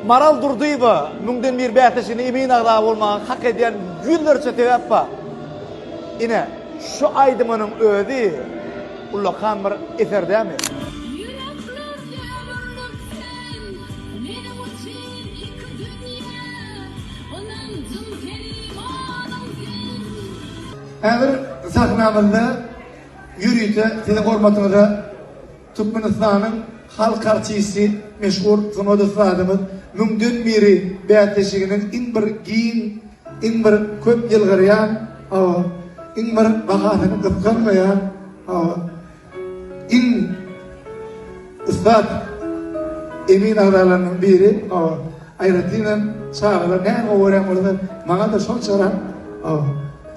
Maral Durdyýewa, Müňden bir bäsleşigine emin agza bolmaga hak edýän ýüzlerçe sebäp bar. Ine, şu aýdymynyň özi ullakan bir eser dämi? Ýürekler döwürdir sen, meniň üçin iki dünýä, Ynanjym sen, imanyň sen. Häzir sahnamyzda ýörite siziň hormatyňyza. Türkmenistanyň halk artisti, meşhur sungat ussadymyz Müňden biri bäsleşiginiň iň bir giň, iň bir köp ýylgyrýan, hawa, iň bir bahasyny gysganmaýan, hawa, iň ussat emin agzalarynyň biri, hawa, aýratynam çagalar näme gorýan bolsa, maňa-da şonçarak, hawa.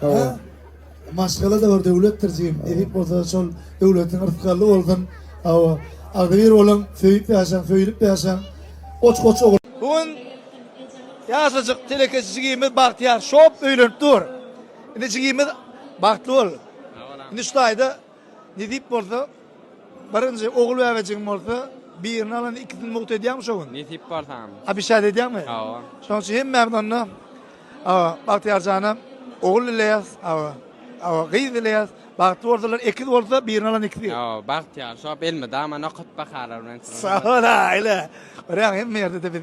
Hawa. Maşgala da bir döwletdir jigim. Nesip bolsa şol döwletiň yrsgally bolsun. Hawa. Agzybir boluň, söýüp ýaşaň, söýülip ýaşaň. Goç-goç ogul. Bu gün ýaşajyk telekeçi jigimiz Bagtyýar şop öýlenip dur. Indi jigimiz bagtly bol. Indi şu taýda Nesip bolsa, birinji ogul bäbejigiň bolsa, birini alanda ikisini mugt edýäňmi şo gün? Nesip bolsa. Abişäs edýäňmi? Hawa. Şonuň üçin hemmämiz onda hawa, Bagtyýar jana ogul dileýäs, hawa, hawa, gyz dileýäs. Bagtly bolsunlar, ekiz bolsa, birini alan ikisi. Hawa, Bagtyýar, şop elmydama nokat bahalar bilen. Sag bol-a, aýla. Görýäňmi, hemme ýerde-de biz.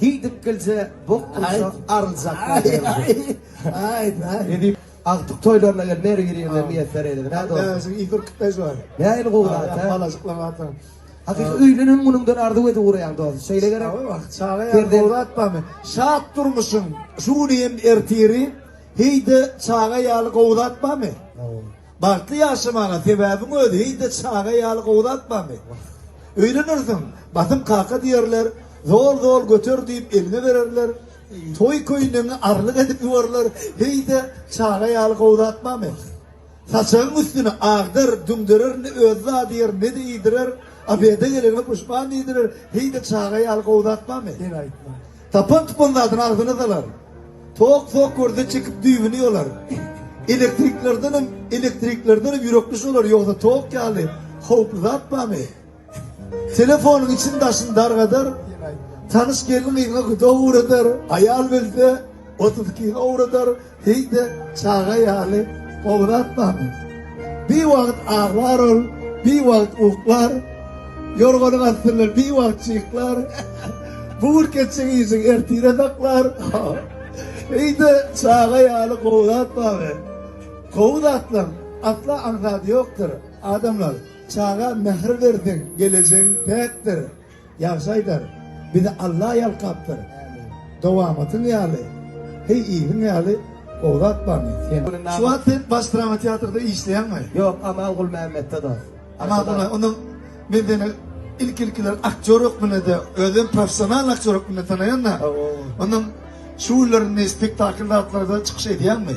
Hidik gilje bok bulsa aryljaklar deriz. Agtyk toýlaryna gel Mary bir ýerde miýesser eýle. Näde ol? Näzig Igor Kpez bar. Näin gowrat he. Balajyklar bardan. Hakyky öýlenen günüňden arzuw edip guraýan dost. Şeýle gerek. Çaga ýa gowrat barmy? Şat durmuşyň şu güni hem ertiri. Heýde çaga ýaly gowrat barmy? Bagtly ýaşamaga sebäbiň özi heýde çaga ýaly gowzatmamy? Öýlenersiň, Basym kaka diýerler, Zol zol göter diýip eliňe bererler, toý köýnegiňi arlyk edip ýubarlar, heýde çaga ýaly gowzatmamy? Saçagyň üstüni agdar, düňderer ne özi zady ýer ne-de iýdirer, obeda gelenime puşman diýdirer, heýde çaga ýaly gowzatmamy? Sen aýtma. Tapan-tupan zadyny agzyna salar. Tok-tok görse çekip düýbüni ýolar. Elektriklerdenem, elektriklerdenem ýürekdüş olar, ýogsa tok ýaly howply zat barmy? Telefonyň içini-daşyny dargadar. Tanyş gelin-gyzyňa guda ugradyr, aýal belse, otuz ikiňe ugradar. Heý-de, çaga ýaly gowratmamy? Bir wagt aglar ol, bir wagt uklar, ýorganyň astyndan bir wagt çyklar, bu gün keçjek işiň ertire saklar. Heý-de, çaga ýaly gowratmamy? Gowy zatlaň asla aňsady ýokdur, adamlar. Çaga mähir berseň, gelejegiň päkdir. Ýagşy aýdar, bizi Alla ýalkapdyr. Dowamatyň ýaly, heý yzyň ýaly gowy zat barmy? Sen. Şu wagt sen baş drama teatrda işleýäňmi? Ýok, Aman Gulmämmetde dost. Aman Gulmämmet, onda men seni ilki-ilkiler aktýor hökmünde-de, özem professional aktýor hökmünde tanaýan-da. Onda şu günlerinde spektakl zatlarda çykyş edýäňmi?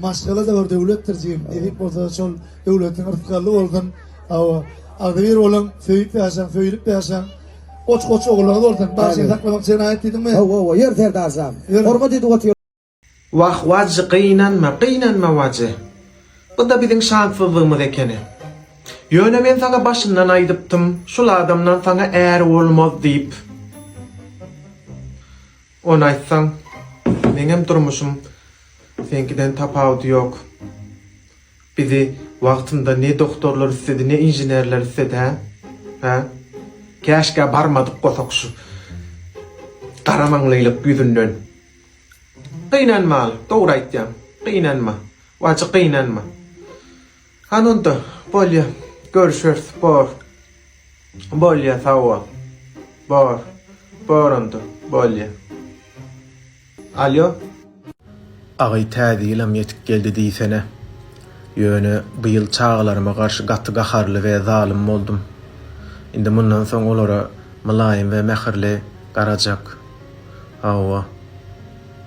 Maşgala-da bir döwletdir jigim, nesip bolsa şol döwletiň rysgally bolsun. Hawa, agzybir boluň, söýüp ýaşaň, söýülip ýaşaň. Goç goç ogullygy bolsun. Bagşyny saklamak jenaýat diýdiňmi? Hawa, hawa, ýör serdar jan. Hormat edip otyr. Wah wajy gynanma gynanma wajy buda biziň şanssyzlygymyz ekeni ýöne men saňa başyndan aýdypdym şul adamdan saňa är bolmaz diýip. Ony aýtsaň, meňem durmuşym seňkiden tapawudy ýok. Bizi wagtynda ne doktorlar isledi, ne inženerler isledi, hä? Hä? Käşgä barmadyk gosak şu garamaňlylyk ýüzünden. Gynanmaly, dogry aýtýaň, gynanma. Wajy gynanma. Hany onda bolýa görüşeris bor bolýa sagbol bor bor onda bolýa alýo. Agy täze ýylam ýetip geldi diýsene. Ýöne bu ýyl çagalaryma garşy gaty gaharly we zalym boldum. Indi mundan soň olara mylaýym we mähirli garajak. Hawa.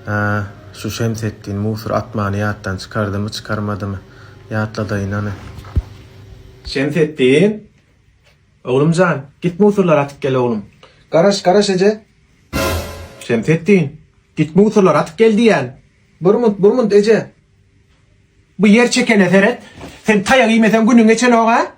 Hä, şu Şemsetdin mugsur atmany ýatdan çykardymy, çykarmadymy? ýatladaýyn hany. Şemsetdin! Oglum jan, git musurlary atyp gel oglum. Garaş, garaş eje! Şemsetdin! Git musurlary atyp gel diýýän! Burmunt, burmunt eje! Bu ýer çekene seret! Sen taýak iýmeseň günüň geçenok-a!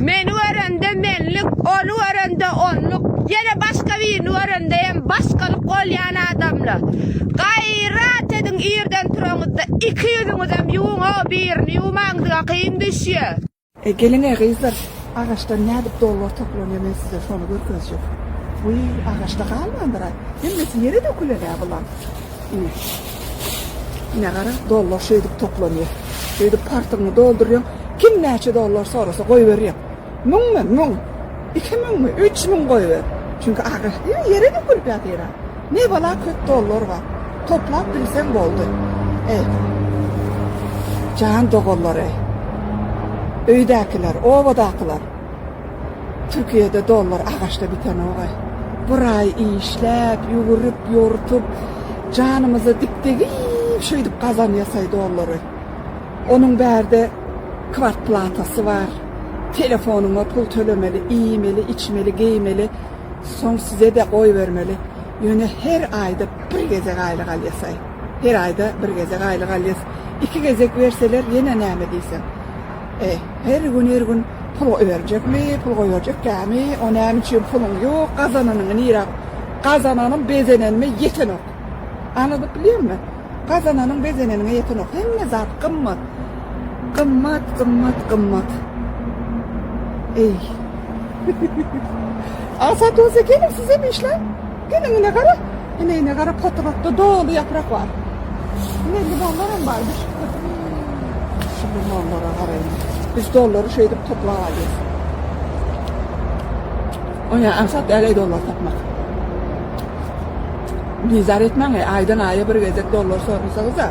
Meni görende menlik, ony görende onluk, ýene başga birini görende hem başgalyk bolýan adamlar. Gaýrat ediň irden turaňyzda iki ýüzüňizem ýuwuň-ow birini ýuwmaň size kyn düşýär. E geliňe gyzlar agaçdan nädip dollar toplanýar men size şony görkezjek. Uý agaçda galmandyra. Hemmesi ýere dökülenä bulan. Uý. Ne gara dollar şeýdip toplanýar. Şeýdip partyňy doldurýaň. Kim näçe dollar sorasa goýberýär. Müňmi? Müň. Iki müňmi? Üç müň goýber. Çünki agaç diýip ýere dökülip ýatyra. Ne bala köp dollar bar. Toplap bilseň boldy. Eý. Jan doganlar eý. Öýdäkiler, obadakylar. Türkiýede dollar agaçda bitenok eý. Bir aý işläp, ýüwürip, ýortup, janymyza dik degip şeýdip gazanýas eý dollary. Onuň bärde kwartplatasy bar. Telefonyňa pul tölemeli, iýmeli, içmeli, geýmeli. Soň sizede goýbermeli. Ýöne her aýda bir gezek aýlyk alýasaý. Her aýda bir gezek aýlyk alýas. Iki gezek berseler ýene näme diýseň. E, her gün her gün pul goýberjekmi, pul goýberjek dämi, o näme üçin puluň ýok, gazananyňy nirä, gazananym bezenenime ýetenok. Anydyp bilýärmi? Gazananyň bezeneniňe ýetenok. Hemme zat gymmat. Gymmat, gymmat, gymmat. Eý. Asa doze gelin size işle. Gelin ine gara. Ine ine gara potrotda dolu yaprak var. Ne limonlar hem var. Şu limonlara garayın. Biz doları şey edip topla alıyoruz. Oya ansat eley dolar tapmak. Bizar etmäň, aýdan aýa bir gezek dollar sorunsagyza.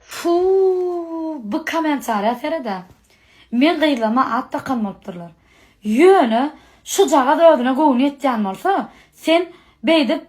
Fuuuu bu komentariýa seredä. Men gyzlama at dakan bolupdyrlar. Ýöne şujagaz özüne göwni ýetýän bolsa sen beýdip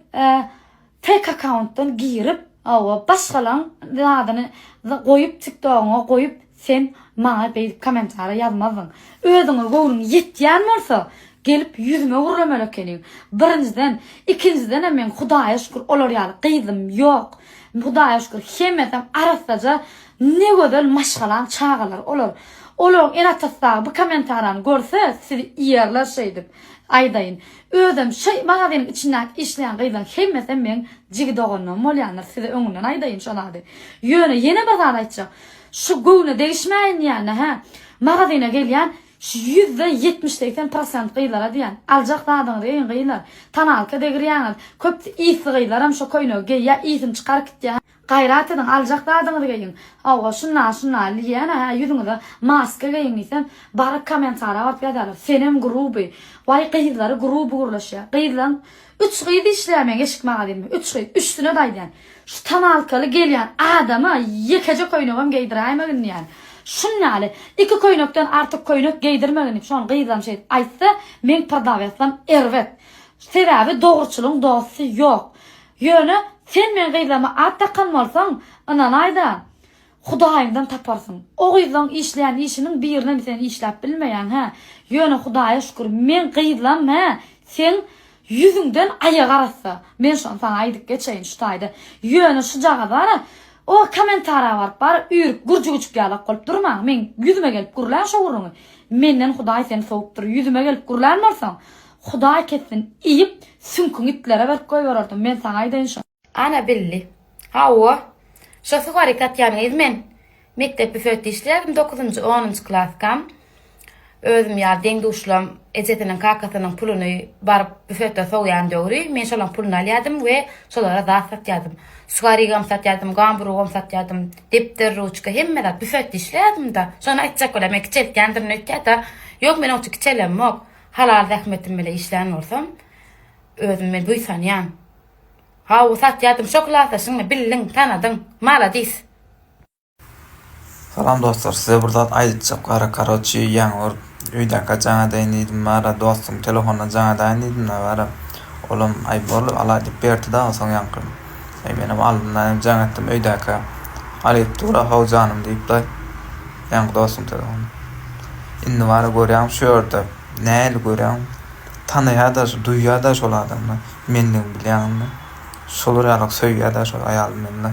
Fake akauntdan girip awa başgalaň zadyny goýup tiktogyňa goýup sen maňa beýdip komentariýa ýazmazdyň. Özüňe göwnüň ýetýän bolsa gelip ýüzüme gürlemeli ekeniň. Birinjiden ikinjidenem meň hudaýa şükür olar ýaly gyzym ýok. Hudaýa şükür hemmesem arassaja ne gözel maşgalaň çagalary olar. Olaryň ene atasy dagy bu komentariýany görse sizi ýerler şeýdip aýdaýyn. Özem şo maganiň içindäki işleýän gyzlaň hemmesem meň jigi doganlarym bolýandyr size öňünden aýdaýyn şo zady. Ýöne ýene bir zat aýtjak. Şo göwne degişmäýin diýende hä magazina gelýän şo ýüzde ýetmiş segsen prosent gyzlara diýýän aljak zadyňyzy geýiň gyzlar. Tonalka degirýäňiz. Köpsi ysly gyzlaram şo köýnegi geýýä ysyn çykaryp gitýä. Gaýrat ediň, aljak zadyňyzy geýiň. Hawa, şunda, şunda, Liýana, hä, ýüzüňize maska geýiň diýsem, baryp kommentariýa baryp ýazýarlar, Senem gruby, waý gyzlary gruby gürleşýär. Gyzlaň üç gyz işleýär meň eşik magazynymda, üç gyz, üçsine-de aýdýan, Şu tonalkaly gelýän adama ýekeje köýnegem geýdiräýmegin diýýän. Şuny ýaly, iki köýnekden artyk köýnek geýdirmegin diýip, şony gyzlaryň şeýdip aýtsa, meň prdawýasam erbet. Sebäbi dogruçylyň dosty ýok. Ýöne sen meň gyzlaryma at dakan bolsaň, ynanaý-da, Hudaýyňdan taparsyň. O gyzlaň işleýän işiniň birinem sen işläp bilmeýäň, hä? Ýöne Hudaýa şükür, meň gyzlam, hä, seň ýüzüňden aýak arassa. Men şony saňa aýdyp geçeýin şu taýda. Ýöne şujagaz bara, o kommentariýa baryp bara üýrüp gürjügüjik ýalak bolup durmaň. Meň ýüzüme gelip gürläň şo gürrüňi. Menden Hudaý seni sowupdyr. Ýüzüme gelip gürlän bolsaň, Hudaý kessin, iýip, süňküňi itlere berip goýbererdim, men saňa aýdaýyn şony. Ana bildi. Hawa, şo suwaryk atýanyňyz men mekdep büfetde işleýärdim, dokuzynjy, onunjy klaskam. Özüm ýaly deň-duşlam ejesiniň, kakasynyň puluny baryp büfetde sowýan döwri men şolaryň puluny alýardym we şolara zat satýardym. Suwarygam satýardym, gamburugam satýardym, depder, ruçka, hemme zat. Büfetde işleýärdim-da. Şony aýtjak bolýar, meni kiçeltýändirin öýtýär-de. Ýok, men onça kiçelemok. Halal zähmetim bile işlän bolsam, özümi buýsanýan. Hawa satýadym şo klasa şuňa bildiň, tanadyň. Maladis. Salam dostlar size bir zat aýdytjak gara karoçi ýaňy bir öýdäkä jaň edeýin diýdim bara dostuň telefonuna jaň edäýin diýdimda bara olam aý boldy alaý diýip berdida onsoň ýaňky aý menem aldymda hem jaň etdim öýdäkä alyp dura how janym diýipda Ýaňky dostuň telefony. Indi bara görýäň şu ýerde. Nähili görýäň? Tanaýa-da, duýýa-da şol adamlar mendigini bilýäň indi. Şolar ýaly söýýä-de şol aýaly meni-le.